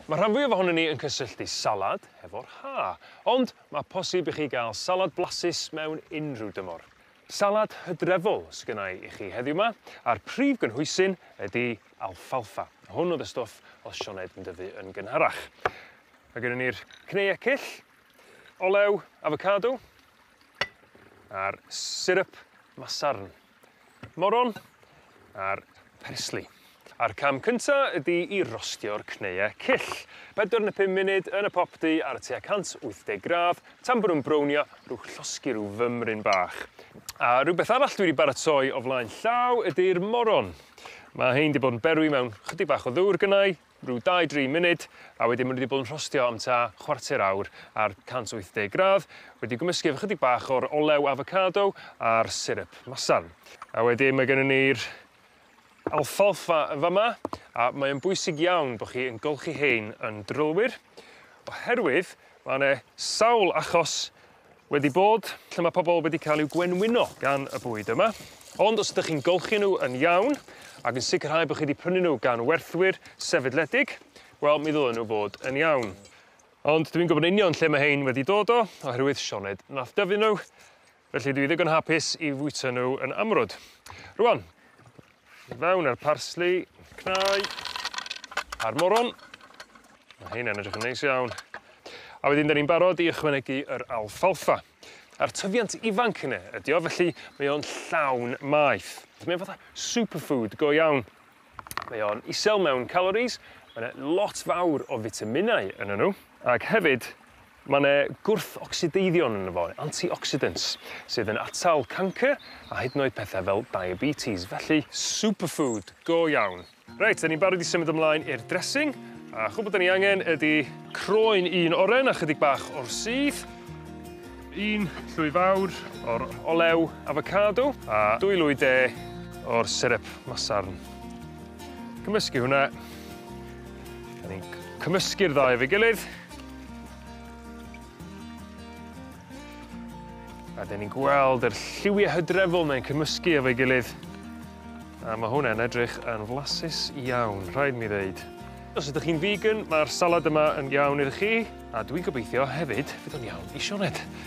Ma' rhan fwyaf ohonon ni yn cysylltu salad hefo'r Ha, ond ma' posib i chi ga'l salad blasus mewn unrhyw dymor. Salad Hydrefol sgynnai i chi heddiw 'ma, a'r prif gynhwysyn ydi alfalfa. Hwn o'dd y stwff o'dd Sioned yn dyfu yn gynharach. Ma' gynnon ni'r cneu ecyll, olew afocado, a'r siryp masarn. moron a'r persli. A'r cam cynta ydi i rostio'r cneue cyll. Pedwar ne' pum munud yn y popty ar y tua 180 gradd tan bo' nw'n brownio rw llosgi rw fymryn bach. A rwbeth arall dwi 'di baratoi o flaen llaw ydi'r moron. Ma' 'hein 'di bod yn berwi mewn chydig bach o ddwr gynnai rhyw dau dri munud a wedyn ma' n'w 'di bod yn rhostio am tua chwarter awr ar cant wyth deg gradd wedi gwmysgu efo chydig bach o'r olew afocado a'r syryp masarn. A wedyn ma' gynnon ni'r alfalfa yn fa' 'ma a mae o'n bwysig iawn bo' chi yn golchi 'hein yn drylwyr oherwydd ma' 'ne sawl achos wedi bod lle ma' pobol wedi ca'l i'w gwenwyno gan y bwyd yma ond os ydych chi'n golchi n'w yn iawn ag yn sicirhau bo' chi 'di prynu n'w gan werthwyr sefydledig wel mi ddylen n'w fod yn iawn. Ond dwi'n gwbod yn union lle ma' hein wedi dod o oherwydd Sioned nath dyfu n'w felly dwi ddigon hapus i fwyta n'w yn amrwd. Rŵan I fewn a'r parsli, cnau, a'r moron. Mae heina'n edrych yn neis iawn. A wedyn 'da ni'n barod i ychwanegu yr alfalfa. A'r tyfiant ifanc yne ydi o, felly mae o'n llawn maeth. Mae o'n fatha superfood go iawn. Mae o'n isel mewn calories, mae 'na lot fawr o fitaminau yno nhw, ac hefyd Ma' 'ne gwrthocsideiddio'n yno fo, antioxidants, sydd yn atal cancr a hyd yn oed pethe fel diabetes, felly superfood go iawn. Reit, 'dan ni'n barod i symud ymlaen i'r dressing, a chwbwl 'dan ni angen ydi croen un oren a chydig bach o'r sudd, un llwy fawr o'r olew afocado a dwy lwy de o'r syrup masarn. Cymysgu hwnna, 'dan ni'n cymysgu'r ddau efo'i gilydd. A 'dyn ni'n gweld yr lliwie hydrefol 'ne'n cymysgu efo'i gilydd a ma' hwnne'n edrych yn flasus iawn rhaid mi ddeud. Os ydych chi'n figan ma'r salad yma yn iawn iddo chi a dwi'n gobeithio hefyd fydd o'n iawn i Sioned.